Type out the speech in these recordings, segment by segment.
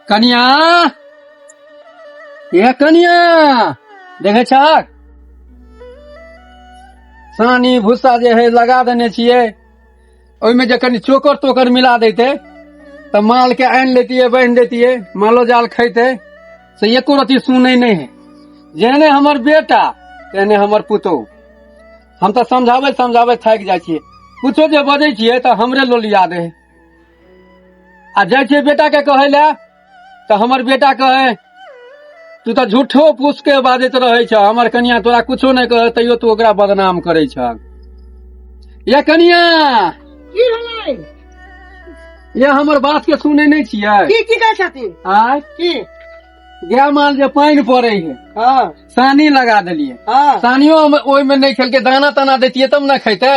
कनिया ये कनिया देखे छक सानी भूसा जे है लगा देने छियै ओहिमे जे कनि चोकर तोकर मिला देते तऽ माल के आनि लेतियै बान्हि देतियै मालो जाल खैते से एको रति सुनै नहि है जेहने हमर बेटा तेहने हमर पुतोह हम तऽ समझाबैत समझाबैत थाकि जाइ छियै कुछो जे बजै छियै तऽ हमरे लोलिया दे है आ जाइ छै बेटा के कहै लए तऽ हमर बेटा कहै तू तऽ झूठो पूछ के बाजैत रहै छ हमर कनिया तोरा कुछो नहि कहै तैयो तू ओकरा बदनाम करै छ या कनिया की भेलै या हमर बात के सुनै नहि छियै की की कहै छथिन आय की गाय माल जे पानि पड़ै है हँ सानी लगा देलियै हँ सानियो हम ओहिमे नहि खेलकै दाना ताना देतियै तब ने खैतै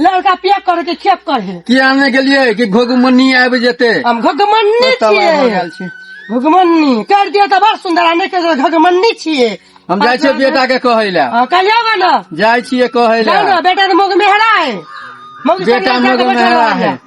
लड़का पिया करे के खेप करे की आने गेलियै कि घोगमनी आबि जेतै हम घगमन्नी तब आबि छियै गेल छी घगमन्नी कर दिया तऽ बड़ सुंदर आने के घगमन्नी छियै हम जाइ छियै बेटा के कहै लए हाँ, कहियो बा ना जाइ छियै कहै जाओ ना लए बेटा के मुख मेहरा है मुख से बेटा लेके मुख बेटा मेहरा रहल है। है।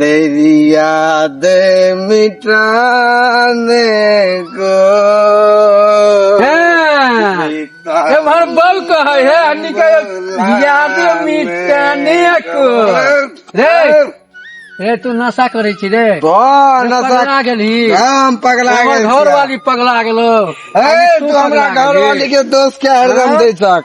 दरिया दे मिटाने को हाँ। एम्हर बल कह है हनी के याद मिटाने को रे रे तू नशा करे छी रे तो नशा पगला गेली हम पगला हमर गेल घर वाली पगला गेलो ए तू हमरा घर वाली के दोस्त के हरदम दे सक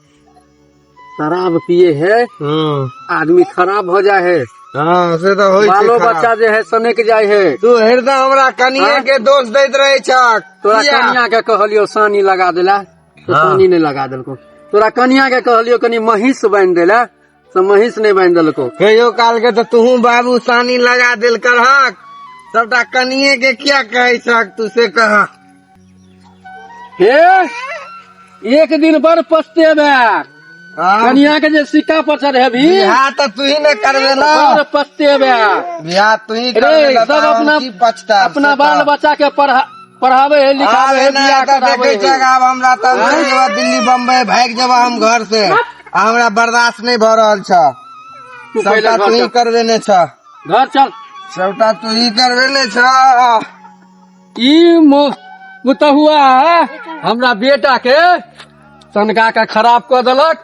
शराब पिए है हाँ आदमी खराब हो जाए है हाँ से तो होई बालो छै खराब। बच्चा जे है सनक जाए है तू हृदय हमरा कनिया हाँ? के दोष दैत रहे छक तोरा किया? कनिया के कहलियो सानी लगा देला तो हाँ। सानी नहीं लगा देलको तोरा कनिया के कहलियो कनी महीस बांध देला से महींस नहि बांधि देलको कहियो काल के तऽ तूहू बाबू सानी लगा देल करहक सबटा कनिए के किया कहै छहक तू से कह हे एक दिन बड़ पछतेबे कनिया के जे सिक्का पर चढ़ेबी बियाह तऽ तू ही ने करबे ना बड़ पछतेबे बियाह तू ही रे, करबे ना सब तऽ हम अपना- की पछता अपना बाल बच्चा के पढ़ा पढ़ावे है लिखावे है बियाह करावे है आब हमरा त दिल्ली बम्बई भागि जेबा हम घर से आ हमरा बर्दाश्त नहि भऽ रहल छ तू पहिले सबटा घर तू ही चल। करबे ने छ घर चल सबटा तू ही करबे ने छ ई मो- पुतहुआ हमरा बेटा के तनका के खराब कऽ देलक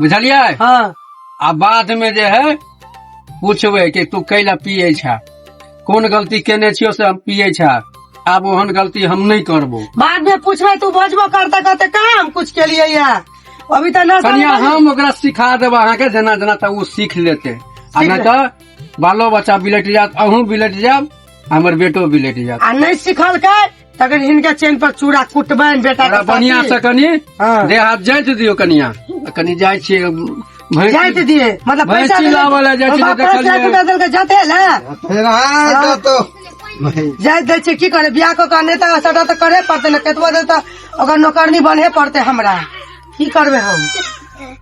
बुझलियै हँ आ बाद में जे है पूछबै कि तू कैला पिए छा कोन गलती केने छियो से हम पिए छा आब ओहन गलती हम नहीं करबो बाद में पूछबै तू बजबो करते करते कहाँ हम कुछ के लिए या अभी तो ना कनिया समझ- हम ओकरा सिखा देब अहाँके जेना जेना तऽ ओ सीख लेते आ सीख नहि तऽ बालो बच्चा बिलट जायत अहूँ बिलट जायब हमर बेटो बिलट जायत आ नहीं सिखल के तखन हिनका चैन पर चूड़ा कुटबनि बेटा थोड़ा बढ़िया से कनी हाँ। देह हाथ जाइत दियो कनिया आ कनी जाइ छियै भैंसी- जाइत दिए मतलब भैंसी पैसा लाबऽ लए जाइ छी बाबा तऽ पाँच देखलियै। लाख रुपया देलकै जाते ने फेर आय हाँ। तऽ तो जाइत दै छियै की करे बियाह कऽ के नेता सटा तऽ करे पड़तै ने केतबो दे तऽ ओकर नौकरनी बने पड़तै हमरा की करबै हम